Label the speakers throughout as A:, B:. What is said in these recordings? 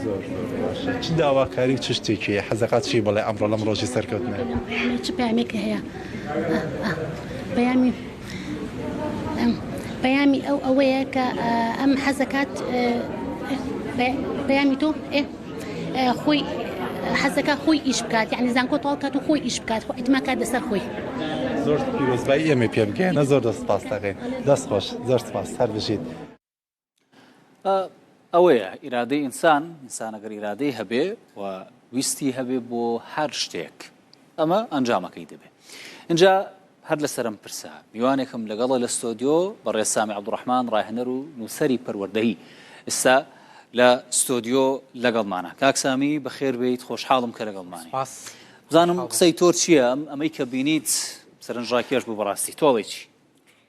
A: زۆر زۆر باشە چ داواکاری و چ شتێکی هەیە حەز دەکات چی بڵێ ئەمڕۆ لەم ڕۆژی سەرکەوتنە هەر چ پامێکی
B: هەیە پەیامی پەیامی ئەو ئەوەیە کە ئەم حەزەکات پەیامی تۆ خۆی حەزەکە خۆی ئیش بکات یعنی زانکۆ تاڵ کات و خۆی ئیش بکات خۆ ئەتما کات لەسەر خۆی زۆر
A: پیرۆزبای ئێمە پێ بگەێنە زۆر دەست پاس دەکەین دەست خۆش زۆر سپاس هەر بژیت
C: ئەوەیە ئیرادەی ئینسان ئینسانەگەر ئیرادەی هەبێ و ویستی هەبێ بۆ هەر شتێک ئەمە ئەنجامەکەی دەبێ اینجا هەر لەسرم پرسە میوانێکم لەگەڵە لە ستۆدیۆ بە ڕێسامی عبدڕحمان ڕاهێنەر و نووسری پەروەردەی ئستا لە ستۆدیۆ لەگەڵمانە کاکسامی بەخێربیت خۆشحاڵم کە لەگەڵمانی بزانم قسەی تۆر چییە ئەم ئەمەی کە بینیت سەرنجڕاکێش بوو بەڕاستی تۆڵێکی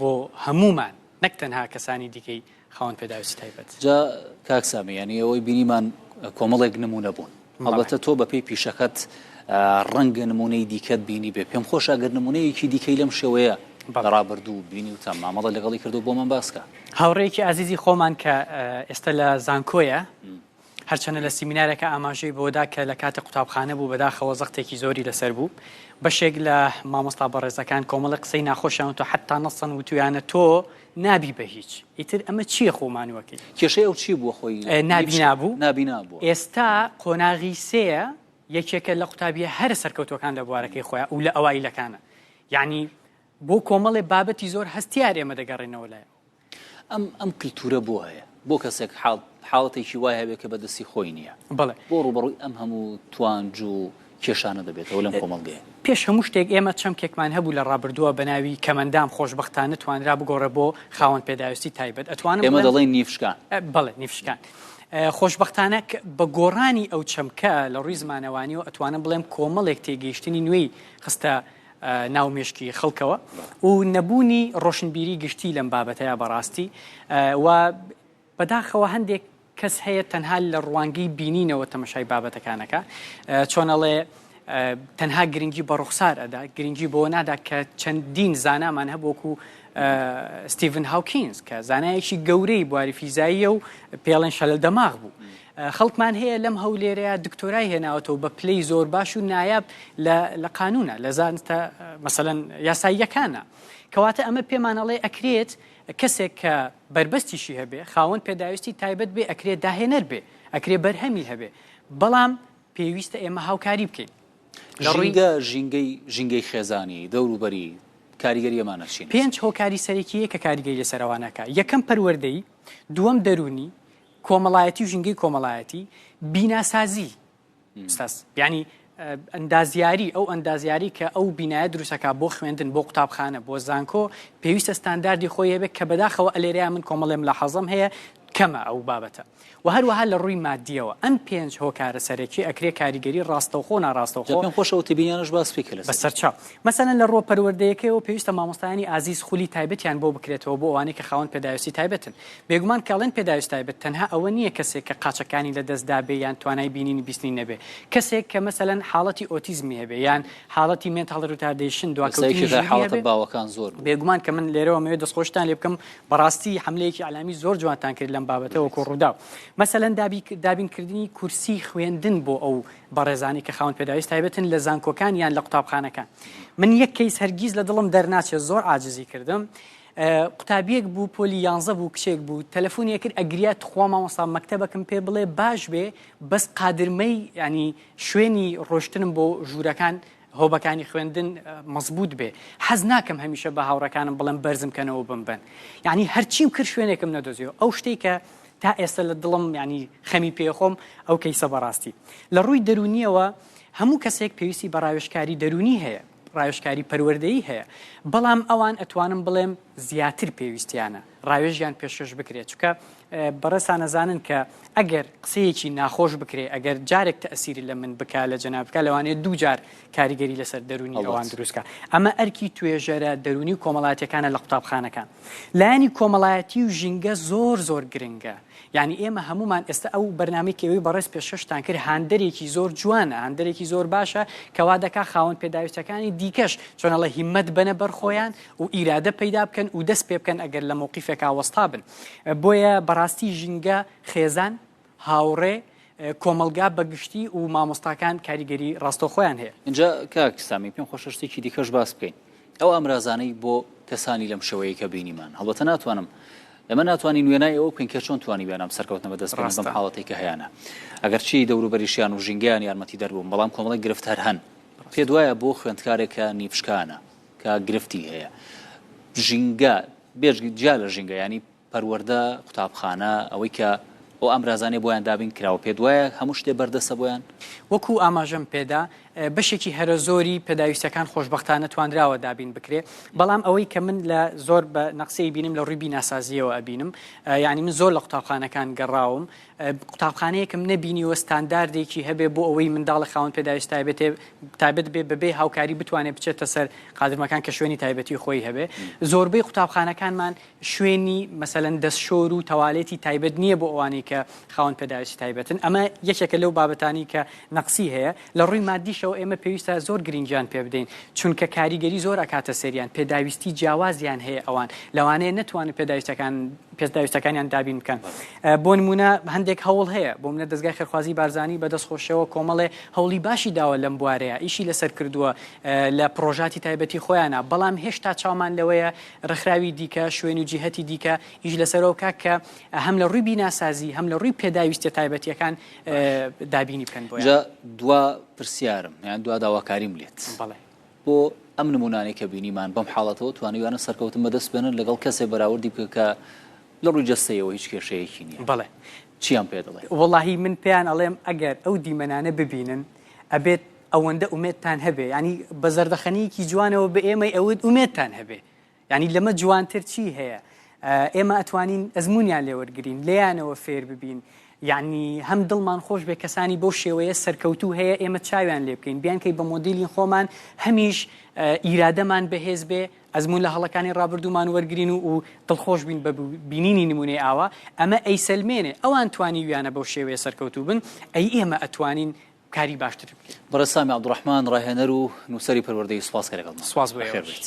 D: بۆ هەموومان نەک تەنها کەسانی دیکەی خاوەن پێداویستی تایبەت. جا کاک
C: سامی یانی ئەوەی بینیمان کۆمەڵێک نمونە بوون هەڵبەتە تۆ بەپێی پیشەکەت ڕەنگە نمونەی دیکەت بینی بێ پێم خۆش ئەگەر نمونەیەکی دیکەی لەم شێوەیە بەڕابردوو بینی و تام مامەڵە لەگەڵی کردو بۆمان باسکە هاوڕێکی ئازیزی
D: خۆمان کە ئێستا لە زانکۆیە هەرچەنە لە سیمینارێکا ئاماژەی بەوەدا کە لە کاتی قوتابخانە بوو بەداخەوە زەختێکی زۆری لەسەر بوو بەشێک لە مامۆستا بەڕێزەکان کۆمەڵە قسەی ناخۆشیان تۆ حتا نەسەن وتویانە تۆ نابی بە هیچ ئیتر ئەمە چییە خۆمانوەکەی کێشەی ئەو چی بووە
C: خۆی نابینا بوو
D: نابینا بوو
C: ئێستا
D: قۆناغی سەیە یەکێکە لە قوتابیە هەرە سەرکەوتوەکان لە بوارەکەی خۆیان و لە ئەوایلەکانە یعنی بۆ کۆمەڵێ بابەتی زۆر هەستیار ئێمە دەگەڕێنەوە لای ئەم ئەم
C: کللتورە بۆ هەیە بۆ کەسێک حاڵ حاڵەتێکی وای هەبێت کە بەدەستی خۆی نییە بڵێ بۆ ڕوبڕووی
D: ئەم هەموو
C: توانج و کێشانە دەبێتەوە لەم کۆمەڵگەیە پێش هەموو شتێک ئێمە
D: چەمکێکمان هەبوو لە ڕابردووە بە ناوی کەمەندام خۆشبەختانە توانرا بگۆڕێ بۆ خاوەن پێداویستی تایبەت ئەتوانم ئێمە بڵێم دەڵێن نیفشکان
C: بەڵێ نیفشکان
D: ئە، خۆشبەختانە ک- بە گۆڕانی ئەو چەمکە لە ڕووی زمانەوانیەوە ئەتوانم بڵێم کۆمەڵێک تێگەیشتنی نوێی خستە ناو مێشکی خەڵکەوە و نەبوونی ڕۆشنبیری گشتی لەم بابەتەیە بەڕاستی و بەداخەوە هەندێک کەس هەیە تەنها لە ڕوانگەی بینینەوە تەمەشای بابەتەکانەکە چۆنەڵێ تەنها گرنگی بە ڕوخسار ئەدا گرنگی بۆ نادا کە چەندین زانامان هەبووکو ستیڤن هاوکینز کە زانایەکی گەورەی بواری فیزاییە و پێڵێن شەلە دەماغ بوو خەڵکمان هەیە لەم هەولێرەیە دکتۆرای هێناوەتەوە بە پلەی زۆر باش و نایاب لە قانونە لە زانستە مەسەەن یاساییەکانە کەواتە ئەمە پێمانەڵێ ئەکرێت کەسێک کە بربەستیشی هەبێ خاوەن پێداویستی تایبەت بێ ئەکرێت داهێنەر بێ ئەکرێ بەرهەمی هەبێ بەڵام پێویستە ئێمە هاوکاری بکەین ژینگە ژینگەی
C: ژینگەی خێزانی دەوروبەری کاریگەریەمانە چین پێنج هۆکاری سەرەکیە کە
D: کاریگەی لەسەرەوانەکە یەکەم پەروەردەی دووەم دەرونی کۆمەڵایەتی و ژینگەی کۆمەڵایەتی بیناسازی ئوستاز یعنی ئەندازیاری ئەو ئەندازیاری کە ئەو بینایە دروستەکە بۆ خوێندن بۆ قوتابخانە بۆ زانکۆ پێویستە ستانداردی خۆی هەبێت کە بەداخەوە ئەلێرەیە من کۆمەڵێم لە حەزم هەیە کەمە ئەو بابەتە و هەروەها لە ڕووی مادیەوە ئەم پێنج هۆکارە سەرەکی ئەکرێ کاریگەری ڕاستەوخۆ ناڕاستەوە پێم خۆش ئەو تبیانش
C: باس پێ لە سەرچاو مەسەن
D: لە ڕۆ پەروەردەیەکەوە پێویستە مامۆستایانی ئازیز خولی تایبەتیان بۆ بکرێتەوە بۆ ئەوانەی کە خاوەن پێداویستی تایبەتن بێگومان کە ئەڵێن پێداویست تایبەت تەنها ئەوە نییە کەسێک کە قاچەکانی لە دەست دابێ یان توانای بینینی بیستنی نەبێ کەسێک کە مەسەلەن حاڵەتی ئۆتیزمی هەبێ یان حاڵەتی مێنتاڵ ریتاردەیشن دواکەوتنی ژیری هەبێ
C: بێگومان کە من لێرەوە
D: مەوێ دەستخۆشتان لێ بکەم بەڕاستی حملەیەکی عەلامی زۆر جوانتان کرد لەم بابەتە وەکو ڕوودا مەسەلەن دابی دابینکردنی کورسی خوێندن بۆ ئەو بەڕێزانی کە خاون پێداویست تایبەتن لە زانکۆکان یان لە قوتابخانەکان من یەک کەیس هەرگیز لە دڵم دەرناچێت زۆر عاجزی کردم قوتابیەک بوو پۆلی یانزە بوو کچێک بوو تەلەفۆنی ئەکرد ئەگریا تخوا مامۆستا مەکتەبەکم پێ بڵێ باش بێ بەس قادرمەی ینی شوێنی ڕۆشتنم بۆ ژوورەکان هۆبەکانی خوێندن مەزبوط بێ حەز ناکەم هەمیشە بە هاوڕەکانم بڵم بەرزم کەنەوە بم بن یعنی هەرچیم کرد شوێنێکم نەدۆزیەوە ئەو شتێک کە تا ئێستا لە دڵم ینی خەمی پێخۆم ئەو کەیسە بەڕاستی لە ڕووی دەرونیەوە هەموو کەسێک پێویستی بە ڕاوێشکاری دەرونی هەیە ڕاوێژکاری پەروەردەیی هەیە بەڵام ئەوان ئەتوانم بڵێم زیاتر پێویستیانە ڕاوێژیان پێشکەش بکرێت چکە بەڕێسانەزانن کە ئەگەر قسەیەکی ناخۆش بکرێ ئەگەر جارێک تەسیری لە من بک لە جەنابکە لەوانێ دوو جار کاریگەری لەسەر دەرونی ئەوان دروستکە ئەمە ئەرکی توێژەرە دەرونی و کۆمەڵاتەکانە لە قوتابخانەکان لایەنی کۆمەڵایەتی و ژینگە زۆر زۆر گرنگە یعنی ئێمە هەمومان ئێستا ئەو بەرنامەی کەوی بەڕێز پێششتان کرد هاندەرێکی زۆر جوانە هاندەرێکی زۆر باشە کەوا دەکا خاوەن پێداویستەکانی دیکەش چۆنەڵە هیمەت بەنە بەرخۆیان و ئیرادە پەیدا بکەن و دەست پێ بکەن ئەگەر لە مووقیفێکا وەستا بن بۆیە بەڕاستی ژینگە خێزان هاوڕێ کۆمەڵگا بەگشتی و مامۆستاکان کاریگەری ڕاستەخۆیان هەیە اینجا کاک سامی
C: پێم خۆشە شتێکی دیکەش باس بکەین ئەو ئامرازانەی بۆ کەسانی لەم شێوەیە کە بینیمان هەڵبەتە ناتوانم ئەمە ناتوانانی نوێنای ئەو بکەین کە چۆن توانی وێنام سەرکەوتنە بە دەستڕاستم حاڵەتی کە هەیەە ئەگەرچی دەوروبەریشیان و ژینگەیان یارمەتی دەربووم بەڵام کۆمەڵی گرفت هەر هەن پێ دوایە بۆ خوێندکارێکە نیپشکانە کە گرفتی هەیە ژینگە بێژگی جیا لە ژینگە ینی پەروەردە، قوتابخانە، ئەوەی کە ئەو ئامرازانەی بۆیان دابین کراوە پێت وایە هەموو شتێ بەردەستە بۆیان؟ وەکو ئاماژەم
D: پێدا بەشێکی هەرە زۆری پێداویستیەکان خۆشبەختانە توانراوە دابین بکرێ بەڵام ئەوەی کە من لە زۆر بە نەقسەی بینم لە ڕووی بیناسازیەوە ئەبینم یانی من زۆر لە قوتابخانەکان گەڕاوم قوتابخانەیەکم نەبینیوە ستانداردێکی هەبێ بۆ ئەوەی منداڵە خاون پێداویست تایبێت تایبەت بێ بەبێ هاوکاری بتوانێت بچێتە سەر قادرمەکان کە شوێنی تایبەتی خۆی هەبێ زۆربەی قوتابخانەکانمان شوێنی مەسەلەن دەستشۆر و تەوالێتی تایبەت نییە بۆ ئەوانەی کە خاوەن پێداویستی تایبەتن، ئەمە یەکێکە لەو بابەتانەی کە نەقسی هەیە، لە ڕووی مادیشەوە ئێمە پێویستە زۆر گرنگیان پێ بدەین، چونکە کاریگەری زۆر ئەکاتە سەریان، پێداویستی جیاوازیان هەیە ئەوان، لەوانەیە نەتوانن پێداویستەکان پێداویستەکانیان دابین بکەن، بۆ نموونە هەندێک هەوڵ هەیە، بۆ منەت دەزگای خێرخوازی بارزانی بە دەست خۆشیەوە کۆمەڵێ هەوڵی باشی داوە لەم بوارەیە، ئیشی لەسەر کردووە لە پڕۆژاتی تایبەتی خۆیانا، بەڵام هێشتا چاومان لەوەیە ڕێکخراوی دیکە، شوێن و جیهەتی دیکە ئیش لەسەرەوە بکات کە هەم لە ڕووی بیناسازی، هەم لە ڕووی پێداویستییە تایبەتییەکان دابینی بکەن بۆیان. جا دوا
C: پرسیارم یان دوا داواکاریم لێت. بەڵێ. بۆ ئەم نموونانەی کە بینیمان بەم حاڵەتەوە توانیویانە سەرکەوتن بەدەست بێنن لەگەڵ کەسێ بەراوردی بکە کە لە ڕووی جەستەیەوە هیچ کێشەیەکی نییە. بەڵێ. چییان
D: پێ دەڵێ؟
C: وەڵاهی من پێیان
D: ئەڵێم ئەگەر ئەو دیمەنانە ببینن ئەبێت، ئەوەندە ئومێدتان هەبێ یانی بە زەردەخەنیکی جوانەوە بە ئێمەی ئەوت ئومێدتان هەبێ ینی لەمە جوانتر چی هەیە ئێمە ئەتوانین ئەزمونیان لێوەرگین لێیانەوە فێر ببین یعنی هەم دڵمان خۆش بێ کەسانی بۆ شێوەیە سەرکەوتو هەیە ئێمە چاویان لێ بکەین بیانکەی بە مۆدیلی خۆمان هەمیش ئیرادەمان بەهێز بێ ئەزمون لە هەڵەکانی ڕابردوومان وەرگین و و دڵخۆش بین بە بینینی نمونێ ئاوا ئەمە ئەیسەلمێنێ ئەوان توانی ویانە بەو شێوەیە سەرکەوتوبن ئەی ئێمە ئەتوانین کاری باشتری بکەین. بەڕێز سامی عەبدولڕەحمان،
C: ڕاهێنەر و نووسەری پەروەردەیی سوپاس کە
D: لەگەڵمان
C: بوویت. بەخێربێیت.